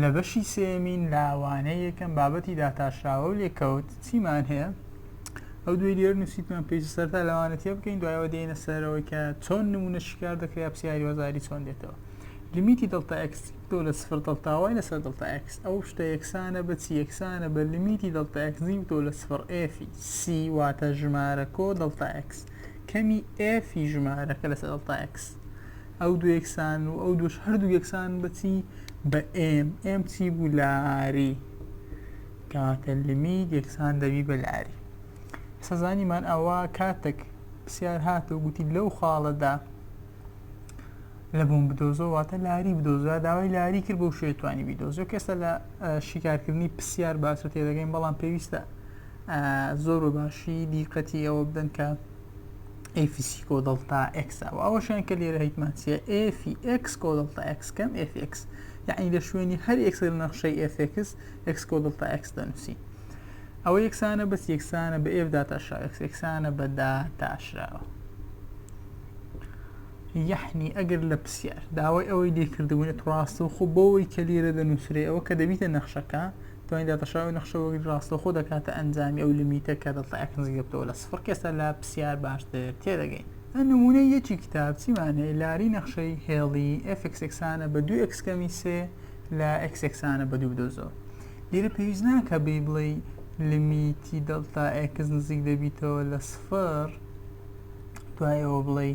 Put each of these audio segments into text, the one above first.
لە بەشی سێیەمین لاوانەی یەکەم بابەتی داتاشراوە و لێکەوت چیمان هەیە ئەو دوێ لێر نووسیتمان پێویستە سەرتا لەوانە تێ بکەین دوایەوە دێنە سەرەوەی کە چۆن نمونە شیکار دەکرێت پرسیاری وەزاری چۆن دێتەوە لمیتی دڵتا ئەکس تۆ لە سفر دڵتاوای لەسەر دڵتا ئەکس ئەو شتە یەکسانە بە چی یەکسانە بە لمیتی دڵتا ئەکسی و تۆ لە سفر ئێفی سی واتە ژمارە کۆ دڵتا ئەکس کەمی ئێفی ژمارەکە لەسەر دڵتا ئەکس ئەو دوو یەکسان و ئەو دووش هەردوو یەکسان بەچی بە ئێم ئێم چی بوو لاری کاتە لیمیت یەکسان دەبی بە لاری سەزانیمان ئەوە کاتێک پرسیار هات و گوتی لەو خاڵەدا لە بۆم بدۆزۆ واتە لاری بدۆزە داوای لاری کرد بۆ شێتوانی بیدۆزۆ کەسە لە شیکارکردنی پرسیار باسە تێدەگەین بەڵام پێویستە زۆر بە باشی دیقەتی ئەوە بدەن کە ئەی فیسی کۆ دەڵتا ئەکسا و ئەوەشیان کە لێرە هیتمانسیە ئفی ئەکس کۆ دەڵتا ئەکس کەم ئفی ئەکس یعنی لە شوێنی هەر ئەکس لە نەخشەی ئفکس ئەکس کۆ دەڵتا ئەکس دەنووسی ئەوە یەکسانە بەس یەکسانە بە ئێف داتاشرا ئەکس یەکسانە بە داتاشراوە یحنی ئەگەر لە پرسیار داوای ئەوەی لێکردبوون ڕاستە و خۆ بەوەی کە لێرە دەنووسێ ئەوە کە دەبیتە نەخشەکە دوای داتاشای ئەو نەخشەوەگری ڕاستەوخۆ دەکاتە ئەنجامی ئەو لیمیتە کە دەڵتا ئێکس نزیک دەبتەوە لە سفڕ کە ئێستا لە پرسیار باشتر تێدەگەین ئە نمونەی یەکی کتاب چیمان هەیە لاری نەخشەی هێڵی ئێف ئێکس ئێکسانە بە دوو ئێکس کەمی سێ لە ئێکس ئێکسانە بە دوو بدۆزەوە لێرە پێویست ناکە بی بڵێی لیمیتی دەڵتا ئێکس نزیک دەبیتەوە لە سفڕ دوایەوە بڵێی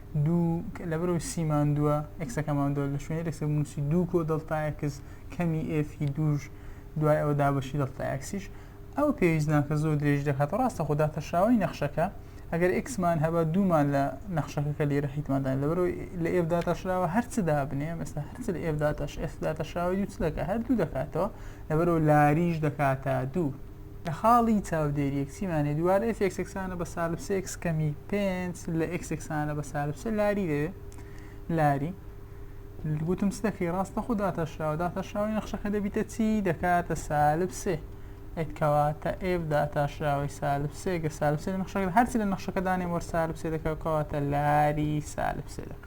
دوو لە بەرەو سی ماندووە ئەکسەکە ماندووە لە شوێنی ئەکسەکە بنووسی دوو کۆ دڵتا ئەکس کەمی ئێفی دووش دوای ئەوە دابەشی دڵتا ئەکسیش ئەو پێویست ناکە زۆر درێژ دەکات ڕاستە خۆدا تەشاوی نەخشەکە ئەگەر ئکسمان هەبە دوومان لە نەخشەکە کە لێرە حیتمادا لە بەرەوەی لە ئێفدا تەشراوە هەرچدا بنێ ئێستا هەرچ لە ئێفدا تەش ئێفدا تەشاوی دوو چ دەکە هەر دوو دەکاتەوە لە بەرەوە لاریش دەکاتە دوو لە خاڵی چاودێری x مان هەیە دووبارە ئێف ئێکس یەکسانە بە سالب سێ ئێکس کەمی پێنج لە ئێکس یەکسانە بە سالب سێ لاری دەوێ لاری گوتم چ دەکەی ڕاستە خۆ داتاشراوە داتاشراوی نەخشەکە دەبیتە چی دەکاتە سالب سێ ئەتکەواتە ئێف داتاشراوی سالب سێگە سالب سێ لە نەخشەکە هەرچی لە نەخشەکە دانێم وەر سالب سێ دەکەوکەواتە لاری سالب سێ دەکە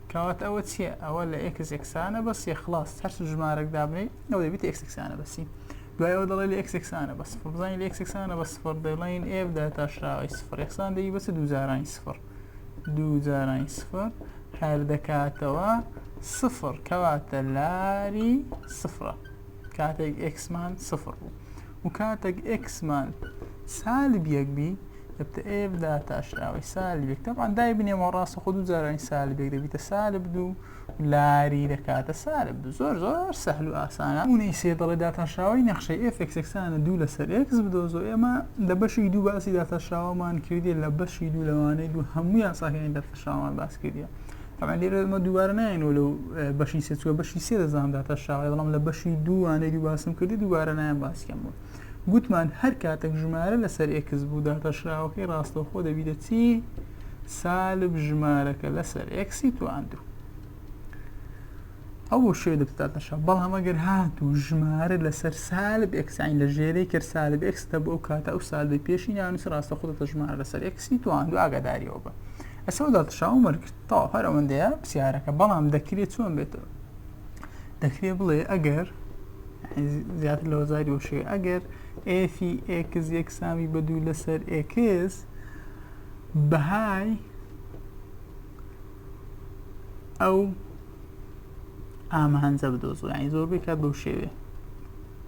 کەواتە ئەوە چیە ئەوە لە ئێکس ئێکسانە بە سێ خلاص هەر ژمارەک دابنێی ئەو دەبیت ئێکس ئێکسانە بە سی دوای ئەوە دەڵێ لە ئێکس ئێکسانە بە سفر بزانین لە ئێکس ئێکسانە بە سفر دەڵێن ئێف دا تاشراوی سفر ئێکسان دەی بەچ دوو جارانی سفر دوو جارانی سفر هەر دەکاتەوە سفر کەواتە لاری سفرە کاتێک ئێکسمان سفر بوو و کاتێک ئێکسمان سالب یەک بی دەبتە ئێف دا تاشراوی سالب یەک تەبان دای بنێمەوە ڕاستە خۆ دوو جارانی سالب یەک دەبیتە سالب دوو لاری دەکاتە سالب دوو زۆر زۆر سەهل و ئاسانە اونەی سێ دەڵێ داتاشراوی نەخشەی ئێفێکسەکسانە دوو لەسەر ئێکس بدۆزۆ ئێمە لە بەشی دوو باسی داتاشراوەمان کردی لە بەشی دوو لەوانەی دوو هەموو یاساکانی داتاشراوەمان باس کردیە تەبعەن لێرە ئەمە دووبارە نایەنەوە لەو بەشی سێ چوە بەشی سێ دەزانم داتە شاوی بەڵام لە بەشی دووانەی دوو باسم کردی دووبارە نایەن باسکەم بوو گوتمان هەر کاتێک ژمارە لەسەر ئێکس بوو داتەشراوەکەی ڕاستەوخۆ دەبیتە چی سالب ژمارەکە لەسەر ئێکسی تواندوو ئەو بۆ شوێ دەبتاتەشە بەڵام ئەگەر هات و ژمارە لەسەر سالب ئەکسین لە ژێرەی کرد سالب ئەکسدا بۆ ئەو کاتە ئەو سالبی پێشی ناونس ڕاستە خودەتە ژمارە لەسەر ئەکسی توان دو ئاگاداریەوە بە ئەسەو دات شاو مەرکرد تەواو هەر ئەوەندەیە پرسیارەکە بەڵام دەکرێت چۆن بێتەوە دەکرێت بڵێ ئەگەر زیاتر لە وەزاری وشێ ئەگەر ئێفی ئێکس یەکسامی بە دوو لەسەر ئێکس بەهای ئەو ئامانجە بدۆزەوە ینی زۆربەی کات بەو شێوێ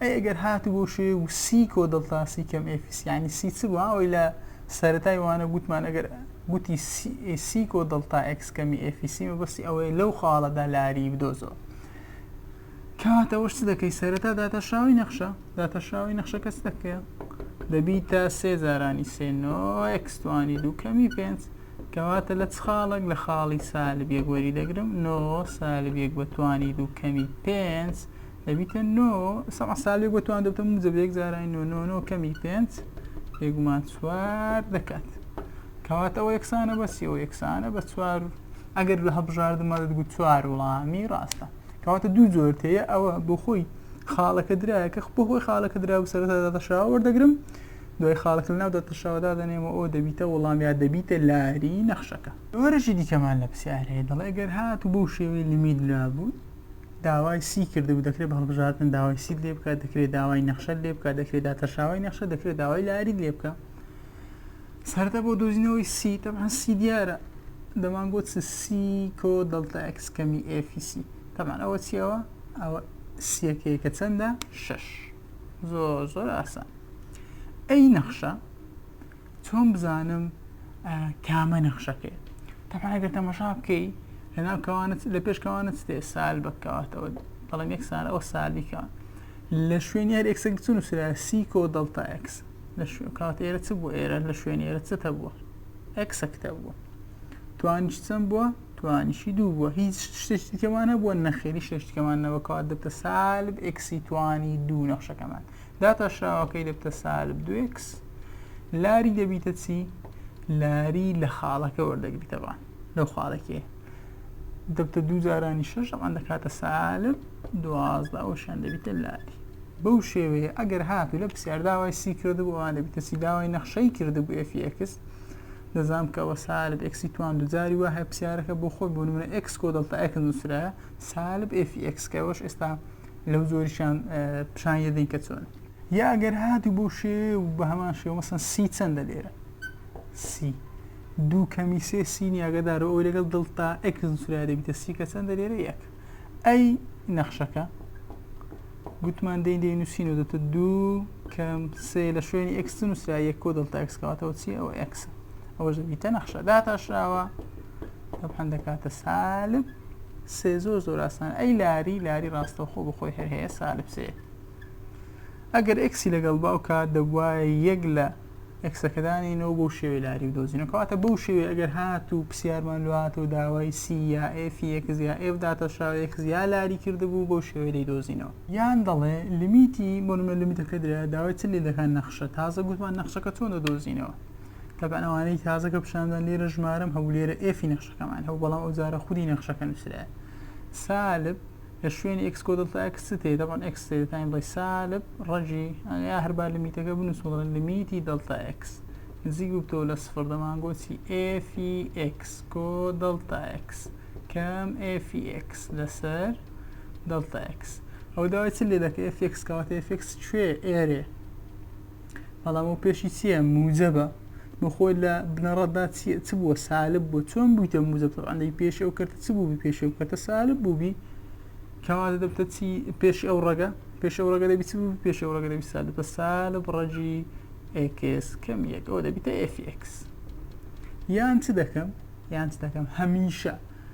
ئەی ئەگەر هاتبۆ شێ و سی کۆ دڵتا سی کەم ئێفیس یانی سی چ بوو ها ئەوەی لە سەرەتای وانە گووتمان ئەگەر گووتی سی کۆ دڵتا ئێکس کەمی ئێفیسی مەبەستی ئەوەیە لەو خاڵە دا لاری بدۆزەوە کەواتە ئەوەش چ دەکەی سەرەتا داتاشراوەی نەخشە داتاشراوەی نەخشە کەس دەکەیە دەبی تا سێ جارانی سێ نۆ ئێکس توانی دوو کەمی پێنج کەواتە لە چ خاڵک لە خاڵی سالب یەک وەری دەگرم نۆ سالب یەک بە توانی دوو کەمی پێنج ئەبیتە نۆ سەع ساڵێک بۆ توان دەبتە موجە بە یەک جارای نۆ نۆ نۆ کەمی پێنج بێگومان چوار دەکات کەواتە ئەو یەکسانە بە سی ئەو یەکسانە بە چوار ئەگەر لە هەبژاردمە دەگوت چوار وڵامی ڕاستە کەواتە دوو جۆر تەیە ئەوە بۆ خۆی خاڵەکە درایە کە بۆ خۆی خاڵەکە درا و سەرەتا دەتەشاوە وەردەگرم دوای خاڵەکە لەناو دەتەشاوەدا دەنێمە ئەو دەبیتە وەڵام یا دەبیتە لاری نەخشەکە وەرەشی دیکەمان لە پرسیار هەیە دەڵێ گەر هات و بەو شێوەی لمی درابوو داوای سی کردبوو دەکرێت بە هەڵبژاردن داوای سیت لێ بکات دەکرێت داوای نەخشەت لێ بکات دەکرێت داتەشاوی نەخشە دەکرێت داوای لاری لێ بکە سەردە بۆ دۆزینەوەی سی تەمان سی دیارە دەمان گوت سی کۆ دڵتە ئەکس کەمی ئفیسی تەمان ئەوە چیەوە ئەوە سیەکەی کە چەندە شش زۆر زۆر ئاسان ئەی نەخشە چۆن بزانم کامە نەخشەکەی تەبعا گەر تەمەشا بکەی لەناو کەوانت لە پێش کەوانت ستێ سال بەکەواتەوە بەڵام یەک سال ئەو سالیکە لە شوێنی هەر ئەکسە چون و سرا سیکۆ دڵتا ئەکس لە شوێن کات ئێرە چ بوو ئێرە لە شوێن ئێرە چ هەبووە ئەکسە کتە بووە توانیش چەند بووە توانیشی دوو بووە هیچ شتێکیکەمان هەبووە نەخێری شتێکمان نەوەکات دەتە سالب ئەکسیتوانی دوو نەخشەکەمان داتاشراوەکەی دەبتە سالب دو ئێکس لاری دەبیتە چی لاری لە خاڵەکە وەردەگریتەوە لەو خاڵەکێ دەبتە دوو جارانی شەش ئەمان دەکاتە سالب دوازدە ئەوشان دەبیتە لاری بەو شێوەیە ئەگەر هاتو لە پرسیار داوای سی کردبوو ئەوان دەبیتە سی داوای نەخشەی کردبوو ئفX دەزانام کەەوە سالب ئەکسی توان دوجاری وە هەپسیارەکە بۆ خۆی بۆ منە ئەکس کۆ دڵتا ئەکن نووسرە سالب ئفX کەەوەش ئێستا لەو زۆریشان پیشان یەدەین کە چۆن یا ئەگەر هاتو بۆ شێ و بە هەمان شێوە مەسن سی چەندە لێرە سی دوو کەمی سێ سینی ئەگەدار ئەو لەگەڵ دڵتا ئەکس سرا دەبیتە سی کە چەندە لێرە یەک ئەی نەخشەکە گوتمان دەین دەین نووسین و دەتە دوو کەم سێ لە شوێنی ئەکسن نووسرا یەک کۆ دڵتا ئەکسکاتەوە چی ئەوە ئەکسە ئەوەش دەبیتە نەخشە داتاشراوە تەبحەن دەکاتە سالب سێ زۆر زۆر ئاسان ئەی لاری لاری ڕاستەوخۆ بخۆی هەر هەیە سالب سێ ئەگەر ئەکسی لەگەڵ باوکە دەبواە یەک لە ئەکسەکەدانینەوە بۆ شێوەی لاری و دۆزینەکەواتە بەو شێوێ ئەگەر هات و پرسیارمان لواتەوە داوای سی یا ئفیەکز یا ئف داتەشاوەیەکز یا لاری کردبوو بۆ شێوەی لی دۆزینەوە یان دەڵێ لمیتی بۆنمە لمیتەکە درا داوای چ لێ دەکات نەخشە تازە گوتمان نەخشەکە چۆن دەدۆزینەوە تەبعەن ئەوانەی تازە کە پیشاندان لێرە ژمارەم هەبوو لێرە ئێفی نەخشەکەمان هەبوو بەڵام ئەو جارە خودی نەخشەکە نووسرایە سالب لە شوێنی ئێکس کۆ دڵتا ئەکس تێ دەبان ئەکس تێ تایم بڵێ سالب ڕەجی ئەگەیا هەربار لە میتەکە بنووسم دەڵێن لە میتی دڵتا ئەکس نزیک بووتەوە لە سفر دەمانگۆچی ئێفی ئێکس کۆ دڵتا ئەکس کەم ئێفی ئێکس لەسەر دڵتا ئەکس ئەو داوای چ لێ دەکە ئێفێکس کەواتە ئێفێکس کوێ ئێرێ بەڵام ئەو پێشی چییە موجەبە بۆخۆی لە بنەڕەتدا چ بووە سالب بوو چۆن بوویتە موجب تەعالی پێش ئەو کردە چ بووبی پێش ئەو کردە سالب بووبی کەواتە دەبتە چی پێش ئەو ڕەگە پێش ئەو ڕەگە دەبی چ بوو پێش ئەو ڕەگە دەبی سالب بە سالب ڕەجی ئێکس کەم یەک ئەو دەبیتە ئێفیکس یان چ دەکەم یان چ دەکەم هەمیشە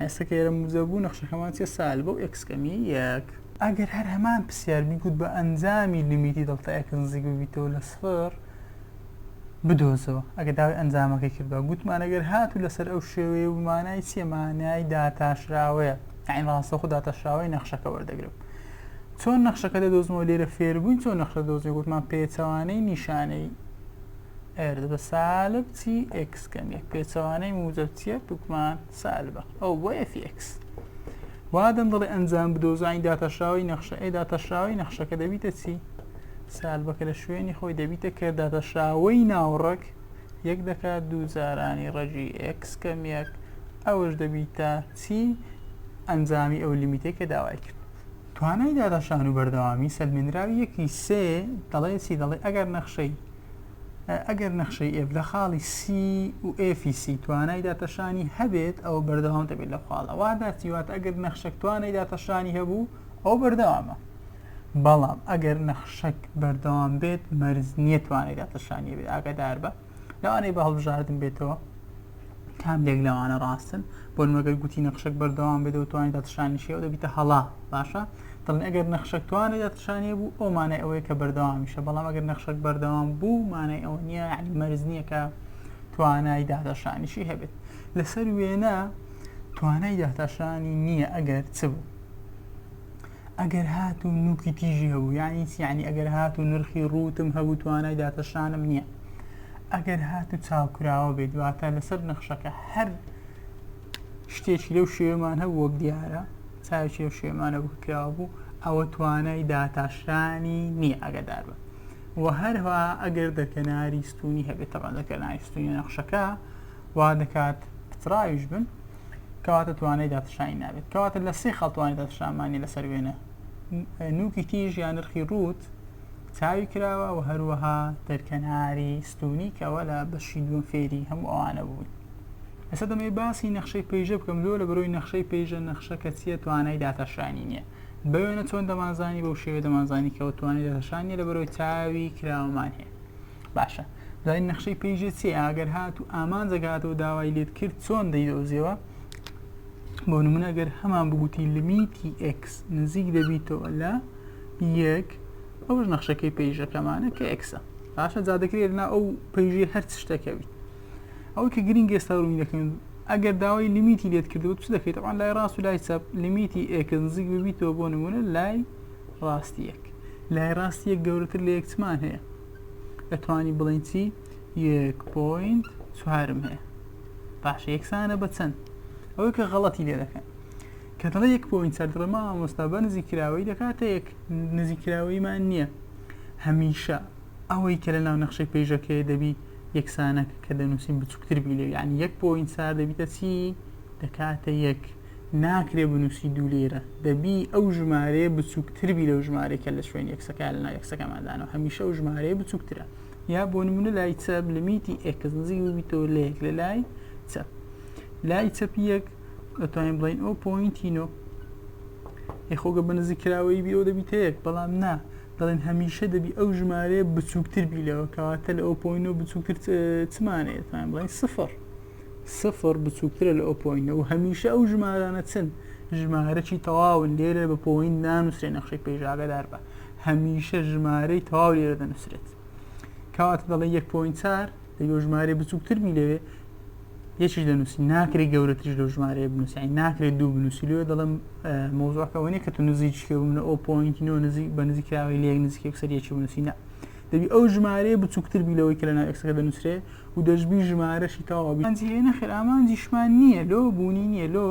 ئێستا کە ئێرە موزە بوو نەخشەکەمان چیە سال بۆ ئێکس کەمی یەک ئەگەر هەر هەمان پرسیار بیگوت بە ئەنجامی لیمیتی دڵتە ئێکس نزیک ببیتەوە لە سفر بدۆزەوە ئەگە داوای ئەنجامەکەی کردوە گوتمان ئەگەر هات و لەسەر ئەو شێوەیە ومانای چیە مانای داتاشراوەیە ئەین ڕاستە خۆ داتاشراوەی نەخشەکە وەردەگرم چۆن نەخشەکە دەدۆزمەوە لێرە فێربووین چۆن نەخشە دۆزی گوتمان پێچەوانەی نیشانەی ئەرد بە سالب تی ئێکس کەم یەک پێچەوانەی موجب تی یەک بکمان سالبە ئەو بۆ ئێفی ئێکس وا دەندڵی ئەنجام بدۆزانی داتەشراوی نەخشە ئێ داتەشراوی نەخشەکە دەبیتە چی سالبەکە لە شوێنی خۆی دەبیتە کە داتەشراوەی ناوڕەک یەک دەکات دوو جارانی ڕەجی ئێکس کەم یەک ئەوەش دەبیتە چی ئەنجامی ئەو لیمیتێک کە داوای کرد توانای داداشان و بەردەوامی سەلمێنراوی یەکی سێ دەڵێ چی دەڵێ ئەگەر نەخشەی ئەگەر نەخشەی ئێف لە خاڵی سی و ئێفی سی توانای داتەشانی هەبێت ئەو بەردەوام دەبێت لە خاڵە واداتی وات ئەگەر نەخشەک توانای داتەشانی هەبوو ئەو بەردەوامە بەڵام ئەگەر نەخشەک بەردەوام بێت مەرز نییە توانای داتەشانی بێت ئاگادار بە لەوانەی بە هەڵبژاردن بێتەوە کام لێک لەوانە ڕاستن بۆ مەگەر گوتی نەخشەک بەردەوام بێت و توانانی داتەشانی شێوە دەبیتە هەڵا باشە دەڵێن ئەگەر نەخشەک توانێ دەرچشانی بوو ئەو مانای ئەوەیە کە بەردەوامیشە بەڵام ئەگەر نەخشەک بەردەوام بوو مانای ئەوە نییە عنی مەرز نییە کە توانای داتاشانیشی هەبێت لەسەر وێنە توانای داتاشانی نییە ئەگەر چ بوو ئەگەر هات و نوکی تیژی هەبوو یانی یعنی ئەگەر هات و نرخی ڕوتم هەبوو توانای داتەشانم نییە ئەگەر هات و چاوکراوە بێت دواتە لەسەر نەخشەکە هەر شتێکی لەو شێوەمان هەبوو وەک دیارە چاوێکی لەو شێوەمانە بوو کراوە بوو ئەوە توانای داتاشرانی نییە ئەگەدار بە و هەرها ئەگەر دەرکەناری ستونی هەبێت تەبا دەکەنای ستونی نەخشەکە وا دەکات پتراویش بن کەواتە توانای داتشانی نابێت کەواتە لە سێ خەڵتوانی داتشانمانی لەسەر وێنە نوکی تیژ یان نرخی ڕوت چاوی کراوە و هەروەها دەرکەناری ستونی کەەوە لە بەشی دووەم فێری هەموو ئەوانە بوون ئێستا دەمەوێت باسی نەخشەی پەیژە بکەم لۆ لە بەرۆی نەخشەی پەیژە نەخشە کە چیە توانای داتاشانی نیە بە وێنە چۆن دەمانزانی بەو شێوێ دەمانزانی کەەوە توانای داتاشان نیە لە بەرۆی چاوی کراوەمان هەیە باشە زای نەخشەی پێیژێ چێ ئاگەر هات و ئامان جەگاتەوە داوای لێت کرد چۆن دەیدۆزیەوە بۆ نمونە گەر هەمان بگوتی لمیتی X نزیک دەبیتەوە لە یەک ئەوش نەخشەکەی پێیژەکەمانە کە ئەکسە باشە جادەکرێت نا ئەو پێیژێ هەر شتەکەویت ئەوەی کە گرینگ ئێستا ڕوونی دەکەن ئەگەر داوای لیمیتی لێت کردو چ دەکەیت ئەوان لای ڕاست و لای چەپ لیمیتی ئێکت نزیک ببیتەوە بۆ نمونە لای ڕاستیەک لای ڕاستیەک گەورەتر لە یەکچمان هەیە ئەتوانی بڵین چی یەک پوینت چوارم هەیە باش یەکسانە بە چەند ئەوەی کە غەڵەتی لێ دەکەن کە دەڵێ یەک پوینت چەند ڕێما ئامۆستا بە نزیکراوەی دەکاتە یەک نزیکراوەیمان نییە هەمیشە ئەوەی کە لە ناو نەخشەی پەیژەکەی دەبی یەکسانەک کە دەنووسین بچووکتر بی لێ یعنی یەک پۆین سار دەبیتە چی دەکاتە یەک ناکرێ بنووسی دوو لێرە دەبی ئەو ژمارەیە بچووکتر بی لەو ژمارەی کە لە شوێن یەکسەکە لە ناو یەکسەکەماندانەوە هەمیشە ئەو ژمارەیە بچووکترە یا بۆ نمونە لای چەپ لەمیتی ئێکس نزیک ببیتەوە لە یەک لە لای چەپ لای چەپی یەک ئەتوانین بڵین ئەو پۆینتی نۆ یخۆگە بە نزیکراوەی بی ئەو دەبیتە یەک بەڵام نا دەڵێن هەمیشە دەبی ئەو ژمارەیە بچووکتر بی لەوە کەواتە لە ئۆپۆینۆ بچووکتر چمانەیە دەتوانین بڵین سفر سفر بچووکترە لە ئۆپۆینە و هەمیشە ئەو ژمارانە چن ژمارەی تەواون لێرە بە پۆین نانووسێ نەخشەی پێژاگەدار بە هەمیشە ژمارەی تەواو لێرە دەنووسێت کەواتە دەڵێ یەک پۆین چار دەبێ و ژمارەی بچووکتر بی لەوێ یەکیش دەنووسی ناکری گەورەتریش لەو ژمارەیە بنووسی ناکرێت دوو بنووسی لێ دەڵم مۆزۆکەوەنی کە تو نزیکێ منە ئەو پۆینتینەوە نزیک بە نزیکراوی لێک نزیک یەکسەریەکی بنووسینە دەبی ئەو ژمارەیە بچووکتر بی لەوەی کە لە ناوکسەکە دەنووسێ و دەشببی ژمارەشی تەواوبیانجی لێ نەخێر ئامانجیشمان نییە لۆ بوونی نییە لۆ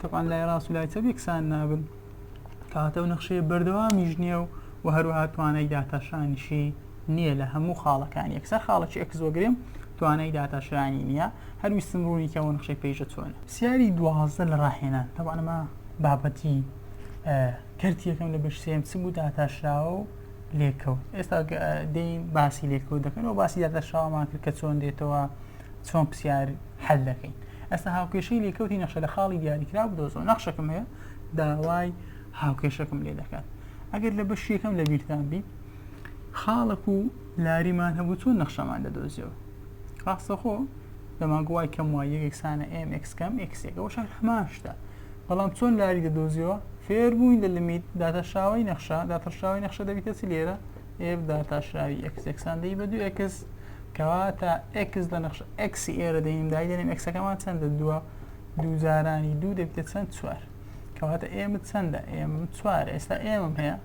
تەپان لای ڕاست و لای چە بێکسان نابن کاتە و نەخشەیە بەردەوامیش نییە و و هەروەها توانای داتاشانیشی نییە لە هەموو خاڵەکان یەکسەر خاڵەکی ئەکسۆگرێم توانای داتاشرانی نییە هەر ویستم ڕوونی کەەوە نقشەی پێیژە چۆنە سیاری دوازدە لە ڕاهێنان تەوانەمە بابەتی کردیەکەم لە بەشسێم چ بوو داتاشراوە و لێکەوت ئێستا دەین باسی لێکەوت دەکەن و باسی داتاشراوەمان کرد کە چۆن دێتەوە چۆن پرسیار حل دەکەین ئەستا هاوکێشەی لێکەوتی نەخشە لە خاڵی دیاریکرا بدۆزەوە نەخشەکەم هەیە داوای هاوکێشەکەم لێ دەکات ئەگەر لە بەشیەکەم لە بیرتان بی خاڵەک و لاریمان هەبوو چۆن نەخشەمان دەدۆزیەوە ڕاستەخۆ دەمانگو وای کەم وای یەکێکسانە ئێم ئکس کەم ئکسێک ئەوە شار هەمان شتە بەڵام چۆن لاری دەدۆزیەوە فێر بووین لە لمیت داتەشاوی نەخشە داتەشاوی نەخشە دەبیتە چ لێرە ئێف داتاشاوی ئەکسێکسان دەی بە دوو ئکس کەواتە ئکس لە نەخش ئەکسی ئێرە دەین دایدەێن ئەکسەکەمان چەندە دووە دووجارانی دوو دەبیتە چەند چوار کەواتە ئێمە چەندە ئێم چوار ئێستا ئێمەم هەیە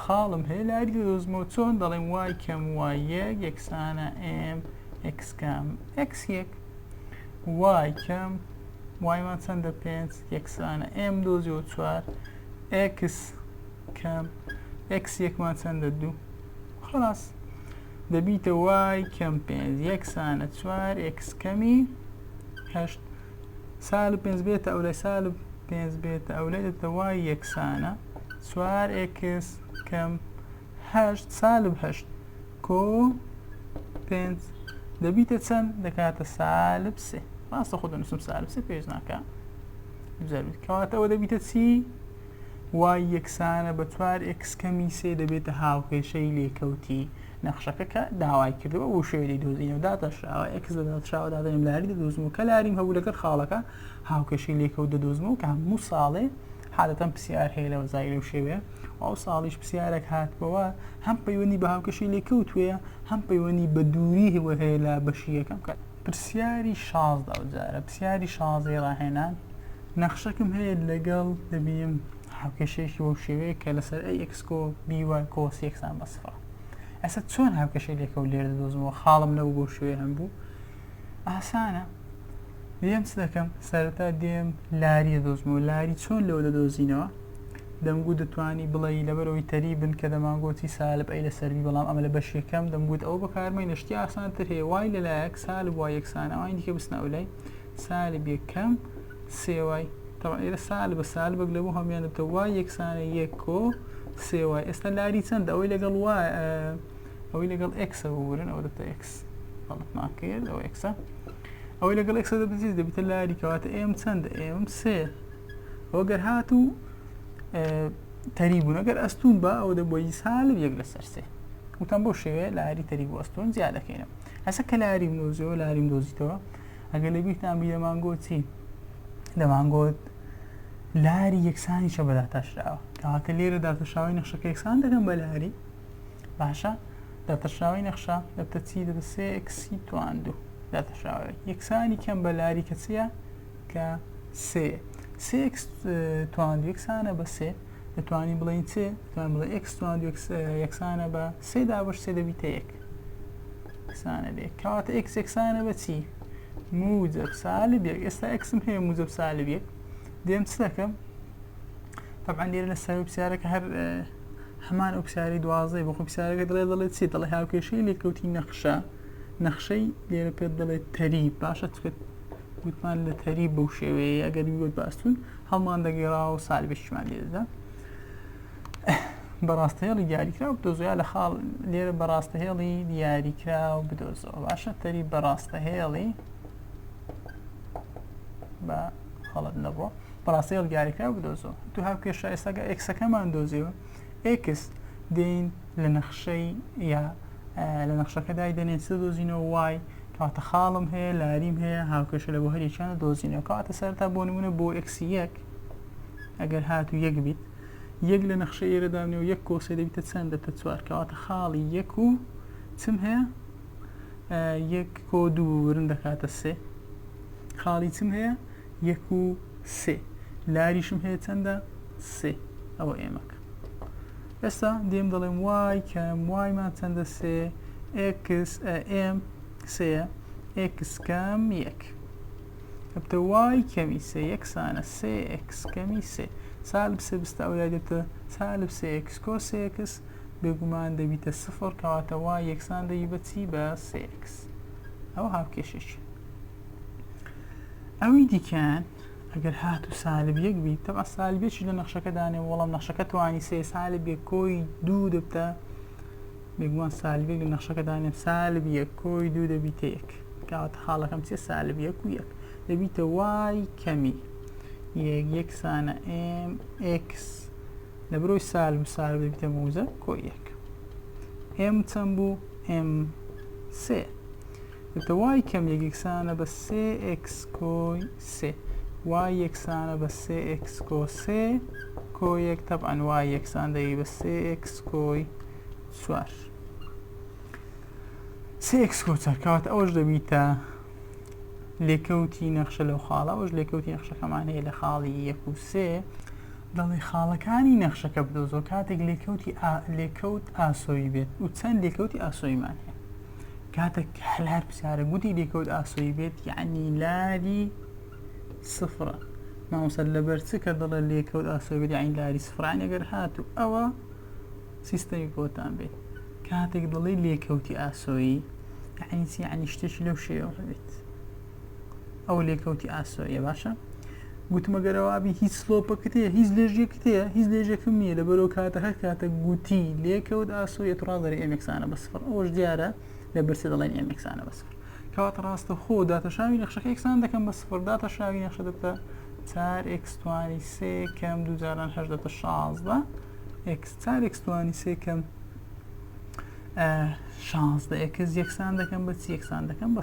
خاڵم هەیە لایک دەدۆزمەوە چۆن دەڵێم وای کەم وای یەک یەکسانە ئێم ئێکس کەم ئێکس یەک وای کەم وایمان چەندە پێنج یەکسانە ئێم دۆزیەوە چوار ئێکس کەم ئێکس یەکمان چەندە دوو خلاص دەبیتە وای کەم پێنج یەکسانە چوار ئێکس کەمی هەشت سالب پێنج بێتە ئەولای سالب پێنج بێتە ئەولای دەتە وای یەکسانە چوار ئێکس کەم هەشت سالب هەشت کۆ پێنج دەبیتە چەند دەکاتە سالب سێ ڕاستە خۆ دەنووسم سالب سێ پێش ناکە بزەرویت کەواتەوە دەبیتە چی؟ وای یەکسانە بە چوار ئێکس کەمی سێ دەبێتە هاوکێشەی لێکەوتی نەخشەکە کە داوای کردووە و شوێ دەیدۆزینەوە داتاشراوە ئێکس لە داتشاوە دادەنێم لاری دەدۆزم و کە لاریم هەبوو لەگەر خاڵەکە هاوکێشەی لێکە و دەدۆزمەوە کە هەموو ساڵێ حالەتەن پرسیار هەیە لەوە زای لەو شێوێ و ئەو ساڵیش پرسیارێک هاتبەوە هەم پەیوەندی بە هاوکێشەی لێکەوتوێ هەم پەیوەندی بە دووری هەوە هەیە لە بەشی یەکەم کە پرسیاری شازدە ئەو جارە پرسیاری شازەی ڕاهێنان نەخشەکەم هەیە لەگەڵ دەبیم هاوکێشەیەکی بۆ شێوەیە کە لەسەر ئەی ئەکسکۆ بیوای کۆس یەکسان بەسفڕ ئەسە چۆن هاوکێشە لێکە و لێرە دۆزمەوە خاڵم نەبوو بۆ شوێ هەم بوو ئاسانە دێم چ دەکەم سەرەتا دێم لاری دۆزمەوە لاری چۆن لەوە دەدۆزینەوە دەمگوت دەتوانی بڵێی لەبەرئەوەی تەریبن کە دەمانگۆتی سالب ئەی لەسەر بی بەڵام ئەمە لە بەش یەکەم دەمگوت ئەوە بەکارمەینە شتی ئاسانتر هەیە وای لەلایەک سالب وای یەکسان ئەوانی دیکە بچنە ئەو لای سالب یەکەم سێ وای طبعا ئێرە سالبە سالبەک لەبوو هەموان دەبتە وای یەکسانە یەک کۆ سێ وای ئێستا لاری چەند ئەوەی لەگەڵ وای ئەوەی لەگەڵ ئەکسە ببورن ئەوە دەبتە ئەکس بەڵتمان کرد ئەو ئەکسە ئەوەی لەگەڵ ئەکسە دەبزیز دەبتە لاری کەواتە ئێم چەندە ئێم سێ ئەوە گەر هات و تەری بوون ئەگەر ئەستون بە ئەوە دەبی سال و یەک لەسەر سێ وتم بۆ شێوێ لاری تەری بۆ ئەستۆن زیادەکەینە هەسە کە لاری منۆزیەوە لاریم دۆزیتەوە ئەگەر لە بیرتان بی دەمانگۆ چی دەمانگۆت لاری یەکسانی چە بەداتاشراوە کەواتە لێرە داتەشاوی نەخشەکە یەکسان دەکەم بە لاری باشە داتەشاوی نەخشە دەبتە چی دەبە سێکسی تواندو داتەشاوی یەکسانی کەم بە لاری کەچیە کە سێ سێ ئێکس توان یەکسانە بە سێ دەتوانین بڵێین چ توان بڵێ ئێکس توان یەکسانە بە سێ دابش سێ دەبیتە یەک سانە بێ کاتە ئێکس یەکسانە بە چی موجب سالب یەک ئێستا ئەکسم هەیە موجب سالب یەک دێم چ دەکەم طبعا لێرە لە سەر پرسیارەکە هەر هەمان ئەو پرسیاری دوازدەی بۆ خۆ پرسیارەکە دڵێ دەڵێت چی دڵێ هاوکێشەی لێکەوتی نەخشە نەخشەی لێرە پێت دەڵێت تەری باشە چکت گوتمان لە تەری بەو شێوەیە ئەگەر ویوت باستون هەڵمان دەگەێڕاوە سالبێکیمان لێدەدا بەڕاستە هێڵی دیاریکراو بدۆزۆیا لە خاڵ لێرە بەڕاستە هێڵی دیاریکراو بدۆزەوە باشە تەری بەڕاستە هێڵی بە خەڵت نەبووە بەڕاستەیەڵ دیاریکراو بدۆزەوە تو هاو کێشە ئێستاگە ئەکسەکەمان دۆزیەوە ئێکس دێین لە نەخشەی یا لە نەخشەکە دایدەنێن چ دۆزینەوە وای کەواتە خاڵم هەیە لاریم هەیە هاوکێشە لە بۆ هەریەکیانە دۆزینەوە کەواتە سەرتا بۆ نمونە بۆ ئێکسی یەک ئەگەر هات و یەک بیت یەک لە نەخشە ئێرە دامنێ و یەک کۆسێ دەبیتە چەند دەبتە چوار کەواتە خاڵی یەک و چم هەیە یەک کۆ دوو ورن دەکاتە سێ خاڵی چم هەیە یەک و سێ لاریشم هەیە چەندە سێ ئەوە ئێمەکە ئێستا دێم دەڵێم وای کەم وایمان چەندە سێ ئکس ئێم سەیە ئکس کەم یەک ئەبتە وای کەمی سێ یەکسانە سێ ئکس کەمی سێ سالب سێ بستە ئەو لای دەبتە سالب سێ ئکس کۆ سێ ئکس بێگومان دەبیتە سفر کەواتەوە یەکسان دەبی بەچی بە سێ ئکس ئەو هاوکێشێکی ئەوی دیکەیان ئەگەر هات و سالب یەک بیت تەبا سالبێکی لە نەخشەکەدانێ وەڵام نەخشەکە توانی سێ سالب بێ کۆی دوو دەبتە بێگومان سالبێک لە نەخشەکەدانێ سالب یەک کۆی دوو دەبیتە یەک کاواتە خاڵەکەم چێ سالب یەک و یەک دەبیتە وای کەمی یەک یەکسانە ئم ئکس لە برۆی سالب و سالب دەبیتە موزە کۆی یەک ئم چەند بوو ئم سێ دەبێتە وای کەم یەک یەکسانە بە سێ ئێکس کۆی سێ وای یەکسانە بە سێ ئێکس کۆ سێ کۆ یەک تەبعەن وای یەکسان دەبی بە سێ ئێکس کۆی چوار سێ ئێکس کۆ چوار کەواتە ئەوەش دەبیتە لێکەوتی نەخشە لەو خاڵە ئەوش لێکەوتی نەخشەکەمان هەیە لە خاڵی یەک و سێ دەڵێ خاڵەکانی نەخشەکە بدۆزۆ کاتێک لێکەوتی لێکەوت ئاسۆی بێت و چەند لێکەوتی ئاسۆیمان هەیە کاتەک حلار پسارە گوتی لێکەوت ئاسۆی بێت یعنی لاری سفرە مامۆستا لەبەر چ کە دەڵێ لێکەوت ئاسۆی بێت یعنی لاری سفرە یعنی گەر هاتو ئەوە سیستەمی بۆتان بێت کاتێک دەڵێ لێکەوتی ئاسۆیی یعنی چی یعنی شتێکی لەو شێوە هەبێت ئەوە لێکەوتی ئاسۆیە باشە گوتمە گەرەوابی هیچ سلۆپەکەت هەیە هیچ لێژێکت هەیە هیچ لێژێکم نییە لە بەرەو کاتە هەر کاتە گوتی لێکەوت ئاسۆیە ڕاڵدەێ ئەمێکسانە بە سفر ئەوش دیارە لە برسە دەڵێن ئەمێکسانە بە سفر کەوات ڕاستە خۆ داتەشاوی نەخشەکە یەکسان دەکەم بە سفر داتەشاوی نەخشە دەبتە چار ئەکسستوانی سێ کەم دووجاران هەش دەبتە شازدە ئەکس چار ئەکسستوانی سێ کەم شانزدە ئەکس یەکسان دەکەم بە چی یەکسان دەکەم بە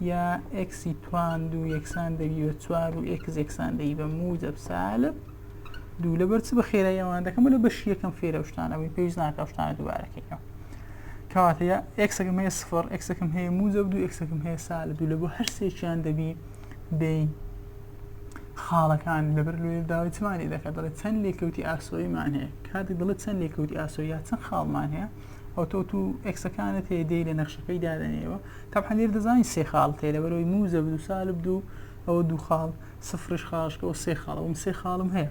یا ئێکسی توان دوو یەکسان دەبی بە چوار و ئێکس یەکسان دەی بە موجب سالب دوو لەبەر چ بە خێرای ئەوان دەکەم لە بەشی یەکەم فێرە شتانە بووی پێویست ناکە شتانە دووبارەکەیەوە کەواتە یا ئێکسەکەم هەیە سفر ئێکسەکەم هەیە موجب دوو ئێکسەکەم هەیە سالب دوو لە بۆ هەر سێکیان دەبی دەی خاڵەکان لەبەر لێ داوای چمانی دەکات دەڵێ چەند لێکەوتی ئاسۆیمان هەیە کاتێک دەڵێت چەند لێکەوتی ئاسۆ یا چەند خاڵمان هەیە ئەو تۆ تو ئەکسەکانت هەیە دێ لە نەخشەکەی دادەنێەوە تەبعەن لێرە دەزانین سێ خاڵ تێ لەبەرەوەی موجەب و سالب دوو ئەوە دوو خاڵ سفرش خاڵش کەەوە سێ خاڵە وم سێ خاڵم هەیە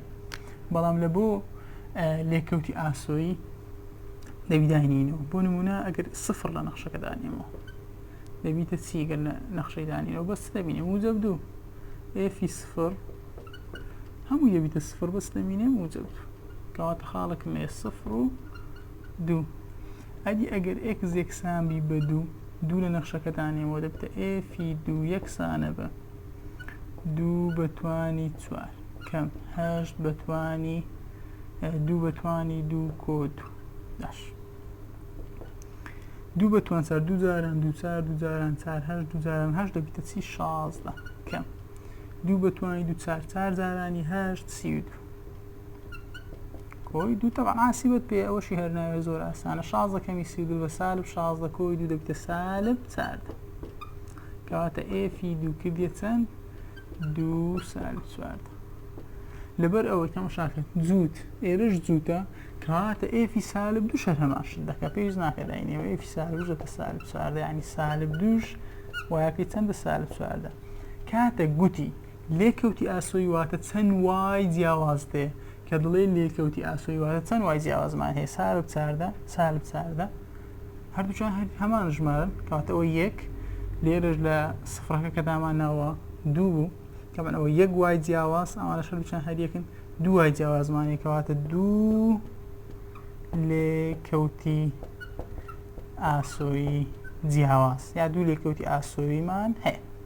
بەڵام لە بۆ لێکەوتی ئاسۆیی دەبیداینینەوە بۆ نمونە ئەگەر سفر لە نەخشەکە دانێمەوە دەبیتە چیگەر لە نەخشەی دانینەوە بەس دەبینێ موجەب دوو ئێفی سفر هەموو دەبیتە سفر بەس دەمینێ موجەب دوو کەواتە خاڵەکەم هەیە سفر و دوو ئەدی ئەگەر ئێکس یەکسان بی بە دوو، دوو لە نەخشەکەتانێ بۆ دەبتە ئێفی دوو یەکسانە بە دوو بە توانی چوار کەم هەشت بە توانی دوو بە توانی دوو کۆ دوو داش دوو بە توان چار دوو جاران دوو چار دوو جاران چار هەشت دوو جاران هەشت دەبیتە چی شازدە کەم دوو بە توانی دوو چار چار جارانی هەشت سی و دوو کۆی دوو تەبان ئاسی بەت پێ ئەوەشی هەرناوێ زۆر ئاسانە شازە کەمی سی دوو بە سالب شازدە کۆی دوو دەبتە سالب چارد کەواتە ئێفی دوو کردە چەند دوو سالب چوارد لەبەر ئەوەی تەمە شاکرد جووت ئێرش جووتە کەواتە ئێفی سالب دوو شەر هەماشت دەکە پێویست ناکە داینەوە ئێفی سالب دەتە سالب چواردە ینی سالب دووش وایەکەی چەندە سالب چواردە کاتە گوتی لێکەوتی ئاسۆی واتە چەند وای جیاواز دێ کە دڵێ لێکەوتی ئاسۆی واتە چەند وای جیاوازمان هەیە سالب چاردە سالب چاردە هەردووچان هەر هەمان ژمارن کاتەوە یەک لێرەش لە سفرەکە کە دامان ناوە دوو بوو کەمن ئەوە یەک وای جیاواز ئەوانە شەرچان هەریەکن دوای جیاوازمانی کەواتە دوو لێ کەوتی ئاسۆی جیاواز یا دوو لێکەوتی ئاسۆیمان هەیە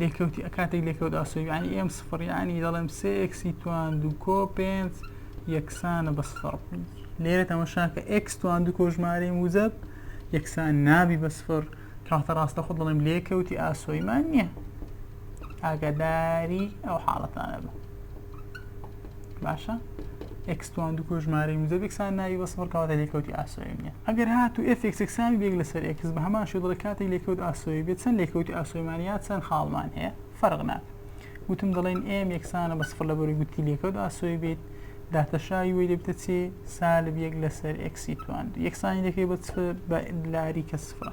لێکەوتی ئەکاتێک لێکەوت ئاسۆ یعنی ئێم سفر یعنی دەڵێم سێ ئێکسی توان دوو کۆ پێنج یەکسانە بە سفر لێرە تەمەشاکە ئێکس توان دوو کۆژمارەی موزەب یەکسان نابی بە سفر کاتە ڕاستە خۆ دەڵێم لێکەوتی ئاسۆیمان نییە ئاگاداری ئەو حاڵەتانە بە باشە ئەکسوان دوو کۆژمارەی موزەبێکسان ناوی بە سفر کەواتە لێکەوتی ئاسۆی نیە ئەگەر هات و ئفێکسەکسانی بێک لەسەر ئەکس بە هەمان شێدڵە کاتی لێکەوت ئاسۆی بێت چەند لێکەوتی ئاسۆیمان یا چەند خاڵمان هەیە فەرق ناکە وتم دەڵێن ئێم یەکسانە بە سفر لە بەری گوتی لێکەوت ئاسۆی بێت داتەشاوی وی دەبتە چێ سالب یەک لەسەر ئەکسی توان یەکسانی دەکەی بە بە لاری کە سفرە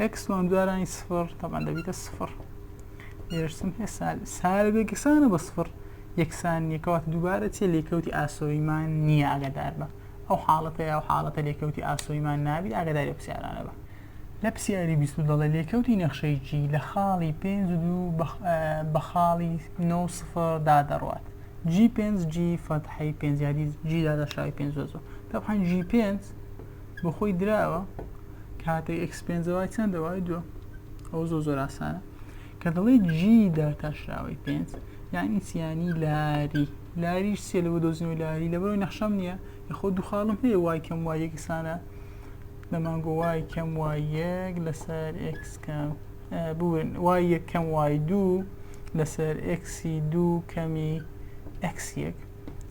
ئەکسوان دوارانی سفر تەبان دەبیتە سفر لێرەشتم هەیە سال سالب یەکسانە بە سفر یەکسان نییە کەواتە دووبارە چیە لێکەوتی ئاسۆیمان نییە ئاگادار بە ئەو حاڵەتە یا حاڵەتە لێکەوتی ئاسۆیمان نابیت ئاگاداری پرسیارانە بە لە پرسیاری بیست دەڵێ لێکەوتی نەخشەی جی لە خاڵی پێنج و دوو بە خاڵی نۆ سفر دادەڕوات جی پێنج جی فەتحەی پێنج یادی جی دادەشاوی پێنج زۆ زۆ تەبحەن جی پێنج بۆ خۆی دراوە کاتێک ئەکس پێنجە وای چەندە وای دووە ئەو زۆ زۆر ئاسانە کە دەڵێ جی داتاشراوەی پێنج یانی چیانی لاری لاریش سێ لەوە دۆزنەوەی لاری لەبەرەوەی نەخشەم نییە یخۆ دوخاڵم هەیە وای کەم وای یەکسانە لە مانگۆ وای کەم وای یەک لەسەر ئکس کەم بورن وای یەکەم وای دوو لەسەر ئکسی دوو کەمی ئەکس یەک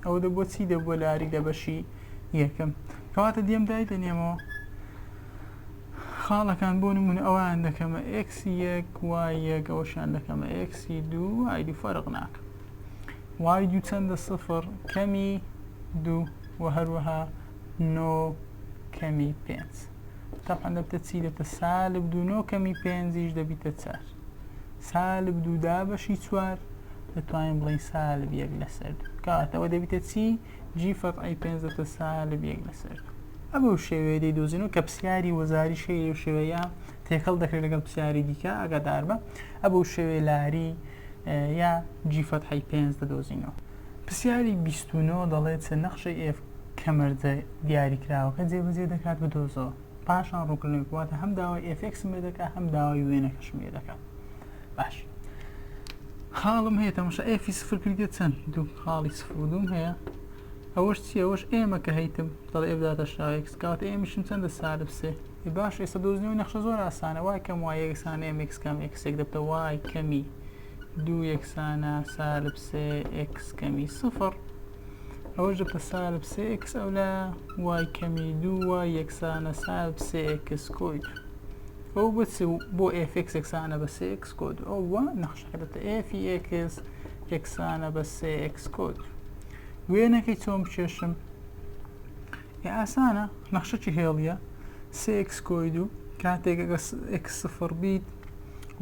ئەوە دەبووە چی دەبووە لە ئاری لە بەشی یەکەم کەواتە دێم دای دەنێمەوە خاڵەکان بۆ نمونە ئەوان دەکەمە ئکسی یەک وای یەک ئەوشان دەکەمە ئکسی دوو ئایدی فەرق ناکە وای دوو چەندە سفر کەمی دوو و هەروەها نۆ کەمی پێنج تاپەندەبتە چی دەبتە سالب دوو نۆ کەمی پێنجیش دەبیتە چار سالب دوو دابەشی چوار دەتوانین بڵین سالب یەک لەسەر دوو کاتەوە دەبیتە چی جی فەرعی پێنج دەتە سالب یەک لەسەر دوو ئەمە و شێوەیە دەی دۆزینەوە کە پرسیاری وەزاری شەیری و شێوەیە تێکەڵ دەکرێت لەگەڵ پرسیاری دیکە ئەگەدار بە ئەبە و شێوێ لاری یا جیفەت حی پێنج دەدۆزینەوە پرسیاری بیستونەوە دەڵێت چە نەخشەی ئێف کەمەرجە دیاریکراوەکە جێبەجێ دەکات بدۆزەوە پاشان ڕووکردنەوەی واتە هەم داوای ئفکسم لێ دەکات هەم داوای وێنەکەشم لێ دەکات باش خاڵم هەیە تەمەشا ئفی سفر کردێت چەند دوو خاڵی سفر و دوم هەیە ئەوەش چی ئەوەش ئێمە کە هەیتم دەڵێ ئێبداتە شاوێکس کاوت ئێمیشم چەندە سالب سێ باش ئێستا دۆزنەوەی نەخشە زۆر ئاسانە وای کەم وای یەکسانە ئێمێکس کەم ئەکسێک دەبتە وای کەمی دوو یەکسانە سالب سێ ئکس کەمی سفر ئەوەش دە پە سالب سێ ئێکس ئەو لایە وای کەمی دوو وای یەکسانە سالب سێ ئێکس کۆی دوو ئەو بە چ و بۆ ئێف ئێکس یەکسانە بە سێ ئێکس کۆ دوو ئەو وە نەخشەکە دەتە ئێفی ئێکس یەکسانە بە سێ ئێکس کۆ دوو وێنەکەی چۆن بکێشم یا ئاسانە نەخشەکی هێڵیە سێ ئێکس کۆی دوو کاتێک ئەگە ئێکس سفر بیت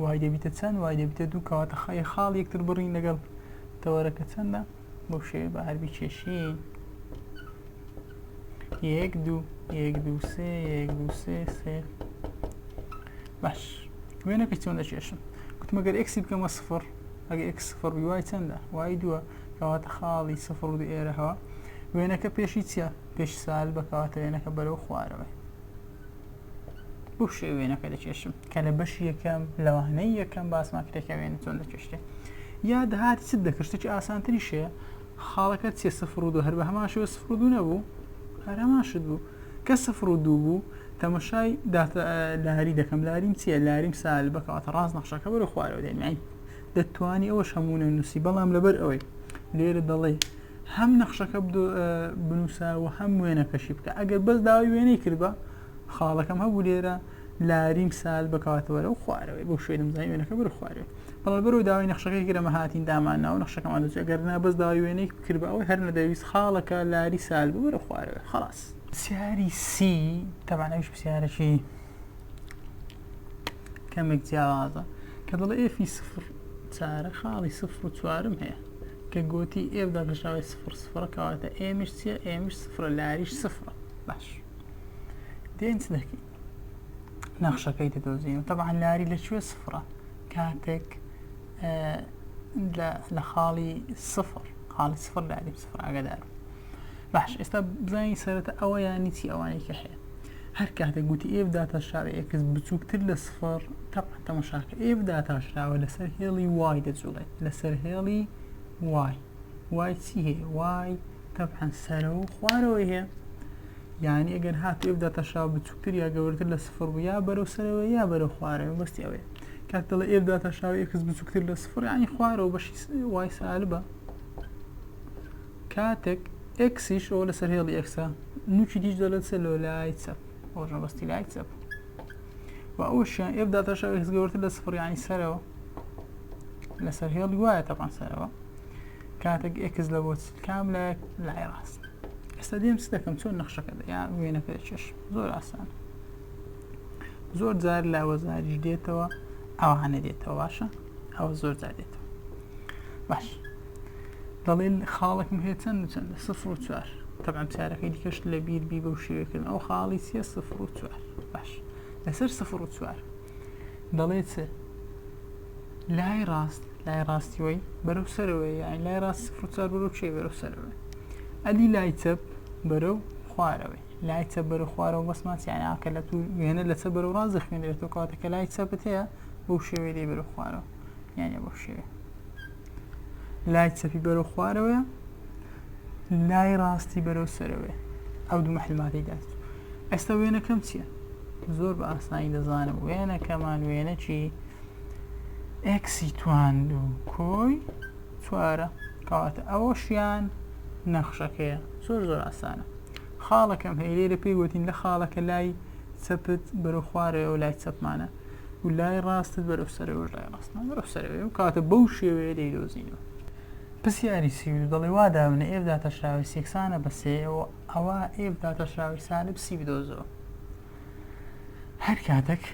وای دەبیتە چەند وای دەبیتە دوو کەواتە خەی خاڵ یەکتر بڕین لەگەڵ تەوەرەکە چەندە بەو شێوێ بە هەربی چێشین یەک دوو یەک دوو سێ یەک دوو سێ سێ باش وێنەکە چۆن دەچێشم گوتمەگەر ئەکسی بکەمە سفر ئەگە ئەکس سفر بی وای چەندە وای دووە کەواتە خاڵی سفر و ئێرەهەوە وێنەکە پێشی چیە پێش سال بەکەواتە وێنەکە بەرەو خوارەوە بۆ شێ وێنەکە دەکێشم کە لە بەشی یەکەم لەوانەی یەکەم باسمان کرێکە وێنە چۆن دەکێشتێ یا دەهات چ دەکشتێکی ئاسانتری شێ خاڵەکە چێ سفر و دو هەر بە هەمان شێوە سفر و دو نەبوو هەرەمان شت بوو کە سفر و دوو بوو تەمەشای لاری دەکەم لاریم چییە لاریم سال بکات ڕاست نەخشەکە بەرە خوارەوە دێنین دەتوانی ئەوەش هەمونە نووسی بەڵام لەبەر ئەوەی لێرە دەڵێ هەم نەخشەکە بنووسە و هەم وێنەکەشی بکە ئەگەر بەس داوای وێنەی کردبە خاڵەکەم هەبوو لێرە لاریم سال بکاتەوەرە و خوارەوەی بۆ شوێنم زای وێنەکە بر خوارێ بەڵە بەرەوە داوای نەخشەکەی گرەمە هاتین دامان ناو نەخشەکەمان دەچێت گەر نا بەس داوای وێنەی کرد ئەوەی هەر نەدەویست خاڵەکە لاری سال بوو بەرە خوارەوە خلاص سیاری سی تەبانەویش پرسیارەکی کەمێک جیاوازە کە دەڵێ ئێفی سفر چارە خاڵی سفر و چوارم هەیە کە گۆتی ئێف داگەشاوی سفر سفرە کەواتە ئێمش چیە ئێمش سفرە لاریش سفرە باش دێنچ دەکی نەخشەکەی دەدۆزین و تەبعا لاری لە کوێ سفرە کاتێک لە خاڵی سفر خاڵی سفر لاری سفر ئاگدار باش ئێستا بزانین سەرەتا ئەوە یانی چی ئەوانەی کە هەیە هەر کاتێک گوتی ئێف داتاشراوە ئێکس بچووکتر لە سفر تەبعا تەماشاکە ئێف داتاشراوە لەسەر هێڵی وای دەجوڵێت لەسەر هێڵی وای وای چی هەیە وای تەبعا سەرەوە و خوارەوەی هەیە یعنی ئەگەر هات ئێف داتاشراوە بچووکتر یا گەورەتر لە سفر بوو یا بەرەو سەرەوە یا بەرەو خوارەوە بەستی ئەوەیە کاک دەڵێ ئێف داتاشراوە ئێکس بچووکتر لە سفر یعنی خوارەوە بەشی وای سالبە کاتێک ئێکسیش ئەوە لەسەر هێڵی ئێکسە نوکی دیش دەڵێت سە لۆ لای چەپ ئەوەش مەبەستی لای چەپ و ئەوشیان ئێف داتاشا ئێکس گەورتر لە سفڕیانی سەرەوە لەسەر هێڵی وایە تەپان سەرەوە کاتێک ئێکس لە بۆ کام لە لای ڕاست ئێستا دێم چ دەکەم چۆن نەخشەکە یا وێنەکە چێش زۆر ئاسان زۆر جار لە وەزاریش دێتەوە ئەوانە دێتەوە باشە ئەوە زۆر جار دێتەوە باش دەڵێن خاڵێکم هەیە چەند و چەندە سفر و چوار تەبان چارەکەی دیکەش لە بیر بی بەو شێوەکردن ئەو خاڵی چیە سفر و چوار باش لەسەر سفر و چوار دەڵێت لای ڕاست لای ڕاستیەوەی بەرەو سەرەوەی یان لای ڕاست سفر و چوار بەرەو چێ بەرەو سەرەوە ئەدی لای چەپ بەرەو خوارەوەی لای چە بەرە خوارەوە بەسمان سیانیان کە لە تو وێنە لە چە بەرەو ڕاز دەخوێنێتەوە کاتەکە لای چەپت هەیە بەو شێوەی لێ بەرە خوارەوە یانە بۆ شێوێ لای چەپی بەرەو خوارەوەە لای ڕاستی بەرەو سەرەوەێ ئەو دوو محلماتی دات ئێستا وێنەکەم چییە زۆر بە ئاسانی دەزانم وێنەکەمان وێنەکی ئەکسی تواند و کۆی چوارە کەواتە ئەوەشیان نەخشەکەیە زۆر زۆر ئاسانە خاڵەکەم هەیە لێرە پێی وتین لە خاڵەکە لای چەپت بەرەو خوارەوە لای چەپمانە و لای ڕاستت بەرەو سەرەوەش لای ڕاستمان بەرەو سەرەوەی و کاتە بەو شێوەیە دەیدۆزینەوە پرسیاری سی و دوو دەڵێ وا دابنێ ئێف داتاشراوی سی یەکسانە بە سێ و ئەوا ئێف داتاشراوی سالب سی بدۆزەوە هەر کاتێک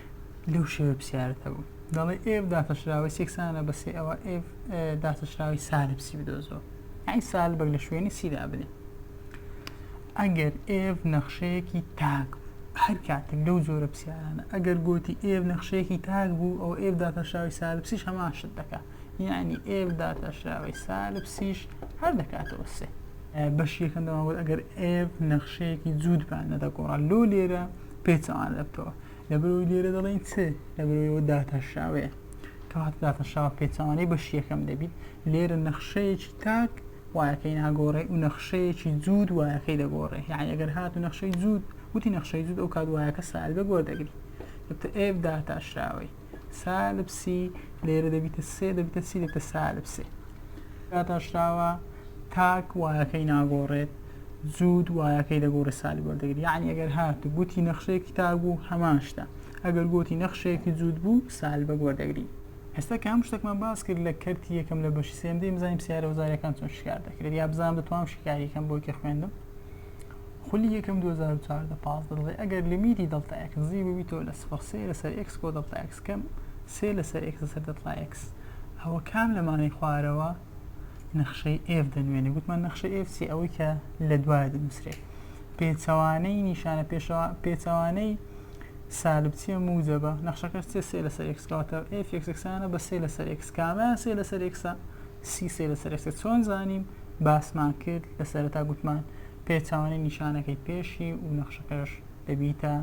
لەو شێوە پرسیارت هەبوو دەڵێ ئێف داتاشراوی سی یەکسانە بە سێ ئەوە ئێف داتاشراوی سالب سی بدۆزەوە یعنی سالبێک لە شوێنی سی دابنێ ئەگەر ئێڤ نەخشەیەکی تاک بوو هەر کاتێک لەو جۆرە پسیارانە ئەگەر گۆتی ئێڤ نەخشەیەکی تاک بوو ئەو ئێڤ داتاشراوی سالبسیش هەمان شت دەکا یعنی ئێڤ داتاشراوی سالبسیش هەر دەکاتەوە سێ بەش یەکەم دەماوەت ئەگەر ئێڤ نەخشەیەکی جوودبان نەدەگۆڕا لۆ لێرە پێچەوان دەبتەوە لە بەرەوەی لێرە دەڵێن چ لە بەرەوەیەوە داتاشراوەیە کەوات داتاشراوە پێچەوانەی بەش یەکەم دەبیت لێرە نەخشەیەکی تاک وایەکەی ناگۆڕێ و نەخشەیەکی جووت وایەکەی دەگۆڕێ یعنی ئەگەر هات و نەخشەی جووت وتی نەخشەی جووت ئەو کات وایەکە سالبێک وەردەگری دەبتە ئێف داتاشراوەی سالب سی لێرە دەبیتە سێ دەبیتە سی دەبتە سالب سێ داتاشراوە تاک وایەکەی ناگۆڕێت جوود وایەکەی دەگۆڕە سالی وەردەگری یعنی ئەگەر هات گوتی نەخشەیەکی تاک بوو هەمان شتە ئەگەر گوتی نەخشەیەکی جوود بوو سالبە وەردەگری ئێستا کە هەموو شتەکمان باس کرد لە کەرتی یەکەم لە بەشی سێم دەی بزانین سیارە وزارەکان چۆن شکار دەکرێت یا بزانام دەتوانم شکاریەکەم بۆ کە خوێندم خولی یەکەم 2014 پاس دەڵێ ئەگەر لیمیتی دڵتا ئەکس زی ببیتەوە لە سفر سێ لەسەر ئەکس کۆ دڵتا ئەکس کەم سێ لەسەر ئەکس لەسەر دڵتا ئەکس ئەوە کام لەمانەی خوارەوە نەخشەی ئێف دەنوێنێ گوتمان نەخشەی ئێف چی ئەوەی کە لە دوایە دەنووسرێت پێچەوانەی نیشانە پێشەوە پێچەوانەی سالب چیە موجەبە نەخشەکەش چیە سێ لەسەر ئێکس کەواتە ئێف ئێکس ئێکسانە بە سێ لەسەر ئێکس کامیان سێ لەسەر ئێکسە سی سێ لەسەر ئێکسە چۆن زانیم باسمان کرد لە سەرەتا گوتمان پێچوانەی نیشانەکەی پێشی و نەخشەکەش دەبیتە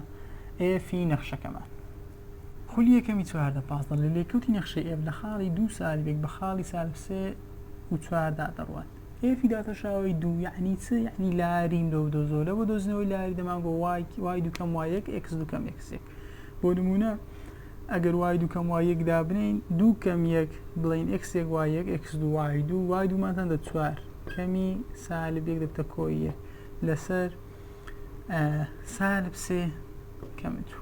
ئێفی نەخشەکەمان خولی یەکەمی چواردە پازدە لە لێکەوتی نەخشەی ئێف لە خاڵی دوو سالبێک بە خاڵی سالب سێ و چواردا دەڕوات ئێفی داتەشاوەی دوو یعنی چ یعنی لاریم لەو دۆزۆ لە بۆ دۆزنەوەی لاری دەمان بۆ وای وای دوکەم وای یەک ئکس دوکەم ئکسێک بۆ نمونە ئەگەر وای دوکەم وای یەک دابنین دوو کەم یەک بڵین ئکسێک وای یەک ئکس دو وای دوو وای دوومانتان دە چوار کەمی سالب یەک دەبتە کۆیە لەسەر سالب سێ کەم دوو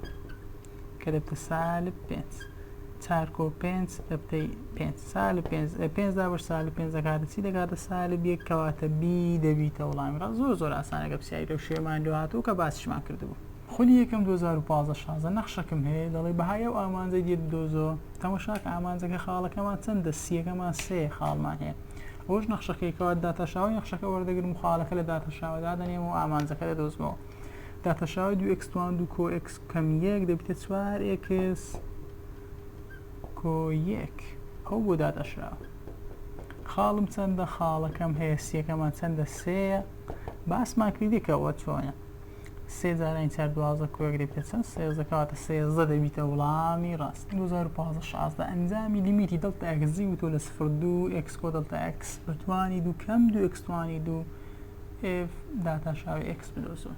کەرەتە سالب پێنج چارکۆ پێنج ئەبتەی پێنج سالب پێنج ئە پێنج دابش سالب پێنج دەکاتە چی دەکاتە سالب یەک کەواتە بی دەبیتە وڵامی ڕاست زۆر زۆر ئاسانەکە پرسیاری لەو شێمان لێ هاتوو کە باسیشمان کردبوو خولی یەکەم دوو هەزار و پازدە شازدە نەخشەکم هەیە دەڵێ بەهای ئەو ئامانجەی دێت بدۆزۆ تەماشاکە ئامانجەکە خاڵەکەمان چەندە سییەکەمان سێ خاڵمان هەیە ئەوش نەخشەکەی کەوات داتاشاوی نەخشەکە وەردەگرم و خاڵەکە لە داتاشاوە دادەنێم و ئامانجەکە دەدۆزمەوە داتاشاوی دوو ئێکس توان دوو کۆ ئێکس کەم یەک دەبیتە چوار ئێکس کۆ یەک ئەو بۆ داداشرا خاڵم چەندە خاڵەکەم هەیە سیەکەمان چەندە سێە باسمان کردیکەوە چۆنە سێ جاران چار دوازە کۆیەک دەبێت چەند سێزەکەواتە سێزە دەبیتە وڵامی ڕاست 2015 شازدە ئەنجامی لیمیتی دڵتا ئەکزی و تۆ لە سفر دوو ئەکسکۆ دڵتا ئەکس بەتوانی دوو کەم دوو ئەکسوانی دوو ئف داتا شاوی ئەکس بدۆزەوە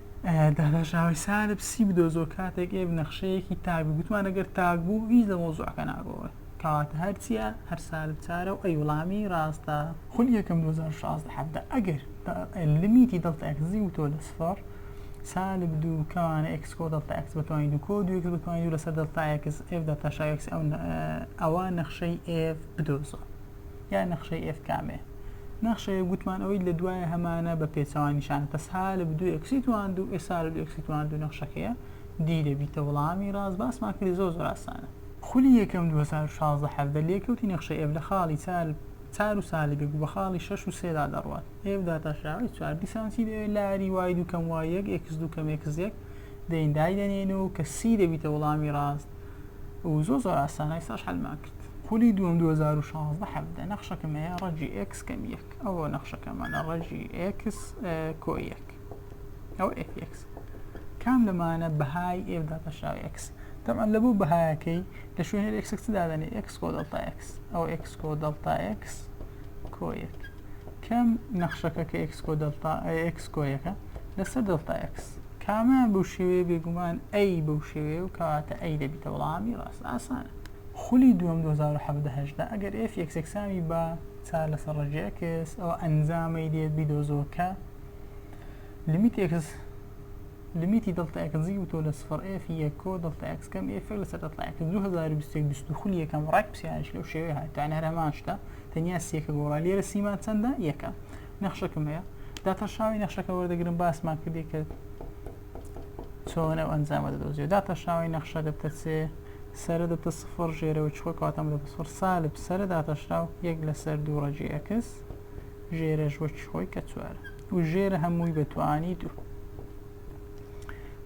داداشاوی سالب سی بدۆزۆ کاتێک ئێ نەخشەیەکی تاک بوو گوتمان ئەگەر تاک بوو هیچ لە مۆزوعەکە ناگۆڕێ کەواتە هەرچیە هەر سالب چارە و ئەی وڵامی ڕاستە خولی یەکەم 2016 حەڤدە ئەگەر لمیتی دڵتە ئەکزی وتۆ لە سفەڕ سالب دوو کەوانە ئێکس کۆ دڵتە ئەکس بەتوانی دوو کۆ دوو ئێکس بەتوانی دوو لەسەر دڵتا ئێکس ئێف دەتاشا ئێکس ئەوە نەخشەی ئێف بدۆزۆ یا نەخشەی ئێف کامێ نەخشەیە گوتمان ئەوەی لە دوایە هەمانە بە پێچەوان نیشانە پس ها لە بدو ئەکسی توان دوو ئێسا لە دوو ئەکسی توان دوو نەخشەکەیە دی دەبیتە وڵامی ڕاست باسمان کردی زۆر زۆر ئاسانە خولی یەکەم 2016 17 لێکەوتی نەخشەی ئێف لە خاڵی چار چار و سالب یەک و بە خاڵی شەش و سێدا دەڕوات ئێف داتاشراوی چوار دیسان چی دەوێت لاری وای دوو کەم وای یەک ئێکس دوو کەم ئێکس یەک دەین دایدەنێن و کە سی دەبیتە وڵامی ڕاست و زۆر زۆر ئاسانە ئێستاش حەلمان کرد خولی دووەم دوو هەزار و شازدە حەڤدە نەخشەکەم هەیە ڕەجی ئێکس کەم یەک ئەوە نەخشەکەمانە ڕەجی ئێکس کۆ یەک ئەوە ئێف ئێکس کام لەمانە بەهای ئێف داپەشاوی ئێکس تەمان لە بۆ بەهایەکەی لە شوێنێ ئێکس چ دادەنێ ئێکس کۆ دەڵتا ئێکس ئەو ئێکس کۆ دەڵتا ئێکس کۆ یەک کەم نەخشەکە کە ئێکس کۆ دەڵتا ئێکس کۆ یەکە لەسەر دەڵتا ئێکس کامیان بەو شێوەیە بێگومان ئەی بەو شێوەیە و کەواتە ئەی دەبیتە وەڵامی ڕاست ئاسانە خولی دووەم دوو هەزار و حەڤدە هەژدە ئەگەر ئێف یەکسەکسامی بە چار لەسەر ڕەگی ئێکس ئەوە ئەنجامەی دێت بیدۆزەوە کە لمیت ئێکس لمیتی دڵتە ئەکزی و تۆ لە سفر ئێف یەکۆ دڵتە ئەکس کەم ئێف لەسەر دڵتە ئەکس 2021 بیست و خولی یەکەم ڕێک پسیارش لەو شێوەیە هات تان هەر هەمان شتە تەنیا سیەکە گۆڕا لێرە سیمان چەندە یەکە نەخشەکم هەیە داتەشاوی نەخشەکە وەردەگرم باسمان کردی کە چۆن ئەو ئەنجامە دەدۆزیەوە داتە شاوی نەخشە دەبتە چێ سەرە دەبتە سفر ژێرەوە چوە کاتەم دەبە سفر سالب سەرە داتەشراو یەک لەسەر دوو ڕەجی ئەکس ژێرە ژوەکی خۆی کە چوار و ژێرە هەمووی بەتوانی دوو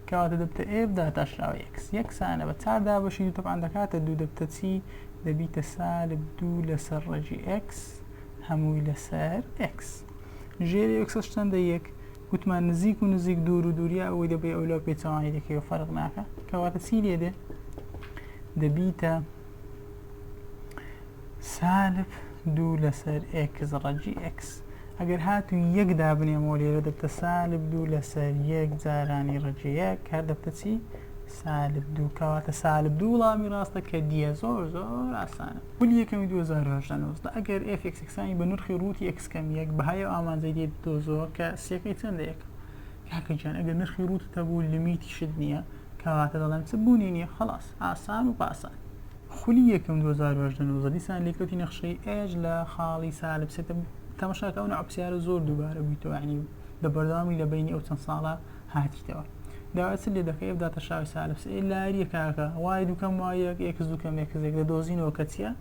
کەواتە دەبتە ئێف داتاشراوە یەکس یەکسانە بە چار دابەشی دوو تەبان دەکاتە دوو دەبتە چی دەبیتە سالب دوو لەسەر ڕەجی ئەکس هەمووی لەسەر ئەکس ژێری ئەکسەش چەندە یەک وتمان نزیک و نزیک دوور و دووریا ئەوەی دەبێ ئەو لەو پێچەوانەی دەکەی و فەرق ناکە کەواتە چی لێ دێ دەبیتە سالب دوو لەسەر ئێکس ڕەجی ئێکس ئەگەر هات و یەک دابنێمەوە لێرە دەبتە سالب دوو لەسەر یەک جارانی ڕەجەیە کار دەبتە چی سالب دوو کەواتە سالب دوو وڵامی ڕاستە کە دیە زۆر زۆر ئاسانە پلی یەکەمی 2018 نوزدە ئەگەر ئێف ئێکس ئێکسانی بە نرخی ڕووتی ئێکس کەم یەک بەهای ئەو ئامانجەی دێ دۆزەوە کە سیەکەی چەندە یەکە کاکە گیان ئەگەر نرخی ڕووت تەبوو لمیتیشت نییە کەواتە دەڵێم چ بوونی نییە خلاص ئاسان و پاسان خولی یەکەم 2018 نوزدە دیسان لێکەوتی نەخشەی ئێج لە خاڵی سالب سێتە تەمەشاکە ئەو نەعە پرسیارە زۆر دووبارە بوویتەوە یعنی بە بەردەوامی لە بەینی ئەو چەند ساڵە هاتیتەوە داوای چ لێ دەکەی ئەو داتە شاوی سالفس ئەی لاریە کاکە وای دوکەم وای یەک یەکس دوکەم یەکس یەک دەدۆزینەوە کە چیە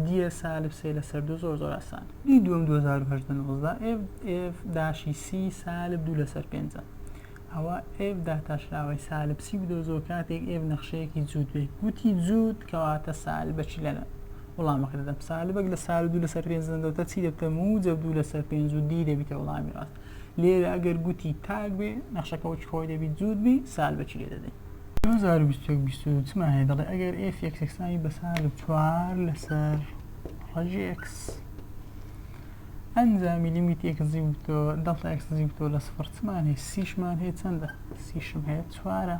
دیە سالف سێ لە سەر دوو زۆر زۆر ئاسان دی دوم 2019 ئف ئف داشی سی سالب دوو لەسەر پێنجە ئەوە ئف داتا شراوەی سالب سی بدۆزەوە کاتێک ئف نەخشەیەکی جووت بێ گوتی جووت کەواتە سالبەچی لەنە وڵامەکە دەدەم سالبەک لە سال دوو لەسەر پێنج دەدەتە چی دەبتە موجب دوو لەسەر پێنج و دی دەبیتە وڵامی ڕاست لێرە ئەگەر گوتی تاک بێ نەخشەکە وەکی خۆی دەبی جووت بی سال بەچی لێ دەدەی؟ دوو هەزار و بیست و یەک بیست و دوو چمان هەیە دەڵێ ئەگەر ئێف ئێکس یەکسانی بە سال و چوار لەسەر ڕەجی ئێکس ئەنجامی لیمیت ئێکس زی وتۆ دەڵتا ئێکس زی وتۆ لە سفر چمان هەیە سیشمان هەیە چەندە سیشم هەیە چوارە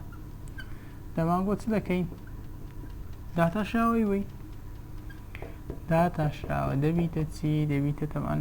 دەمان بۆ چ دەکەین داتاشاوەی وی داتاشراوە دەبیتە چی دەبیتە تەمان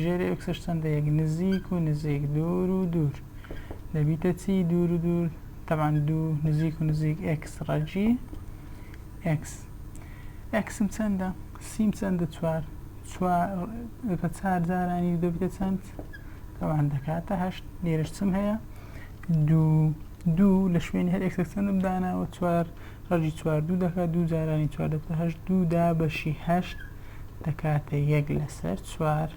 ژێری ئۆکسش چەندە یەک نزیک و نزیک دوور و دوور دەبیتە چی دوور و دوور تەبان دوو نزیک و نزیک ئکس ڕەجی ئکس ئەکسم چەندە سیم چەندە چوار چوار دەکە چار جارانی دەبیتە چەند تەوان دەکاتە هەشت لێرش چم هەیە دوو دوو لە شوێنی هەر ئەکسەک چەندم داناوە چوار ڕەجی چوار دوو دەکات دوو جارانی چوار دەبتە هەشت دوو دا بەشی هەشت دەکاتە یەک لەسەر چوار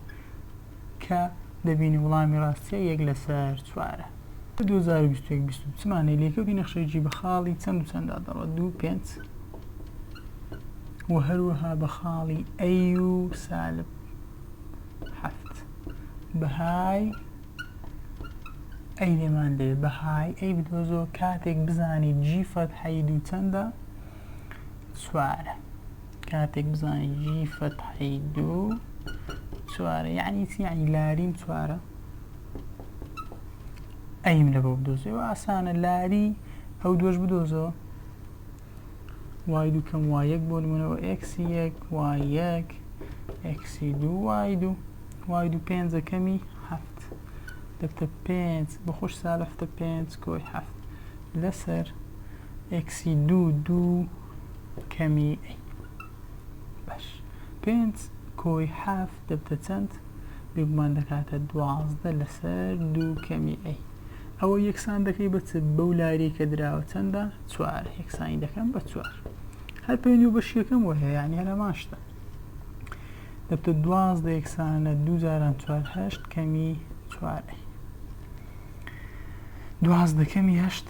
کە دەبینی وڵامی ڕاستیە یەک لەسەر چوارە. دوو هەزار و بیست و یەک بیست و چ مانای لێکەوتی نەخشەی جی بە خاڵی چەند و چەندا دەڕوات دوو پێنج وە هەروەها بە خاڵی ئەی و سالب حەفت بەهای ئەی لێمان دەوێت بەهای ئەی بدۆزەوە کاتێک بزانی جی فەتحەی دوو چەندە چوارە کاتێک بزانی جی فەتحەی دوو چوارە یعنی چی یعنی لاریم چوارە ئەیم لە بۆ بدۆزێ و ئاسانە لاری ئەو دۆش بدۆزەوە وای دوو کەم وای یەک بۆ نمونەوە ئەکسی یەک وای یەک ئەکسی دوو وای دوو وای دوو پێنجە کەمی هەفت دەبتە پێنج بەخۆش سا لەفتە پێنج کۆی هەفت لەسەر ئەکسی دوو دوو کەمی ئەی باش پێنج کۆی حەفت دەبتە چەند بێگومان دەکاتە دوازدە لەسەر دوو کەمی ئەی ئەوە یەکسان دەکەی بە چ بەو لاری کە دراوە چەندە چوار یەکسانی دەکەم بە چوار هەر پێنج و بەشیەکەم وە هەیە یان هەرەمان شتە دەبتە دوازدە یەکسانە دوو جاران چوار هەشت کەمی چوار ئەی دوازدە کەمی هەشت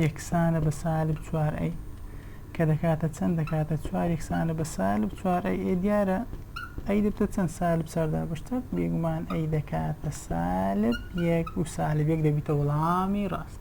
یەکسانە بە سالب چوار ئەی کە دەکاتە چەند دەکاتە چوار یەکسانە بە سالب چوار ئەی ئێ دیارە ئەی دەبتە چەند سالب چاردا بەشتە بێگومان ئەی دەکاتە سالب یەک و سالب یەک دەبیتە وەڵامی ڕاست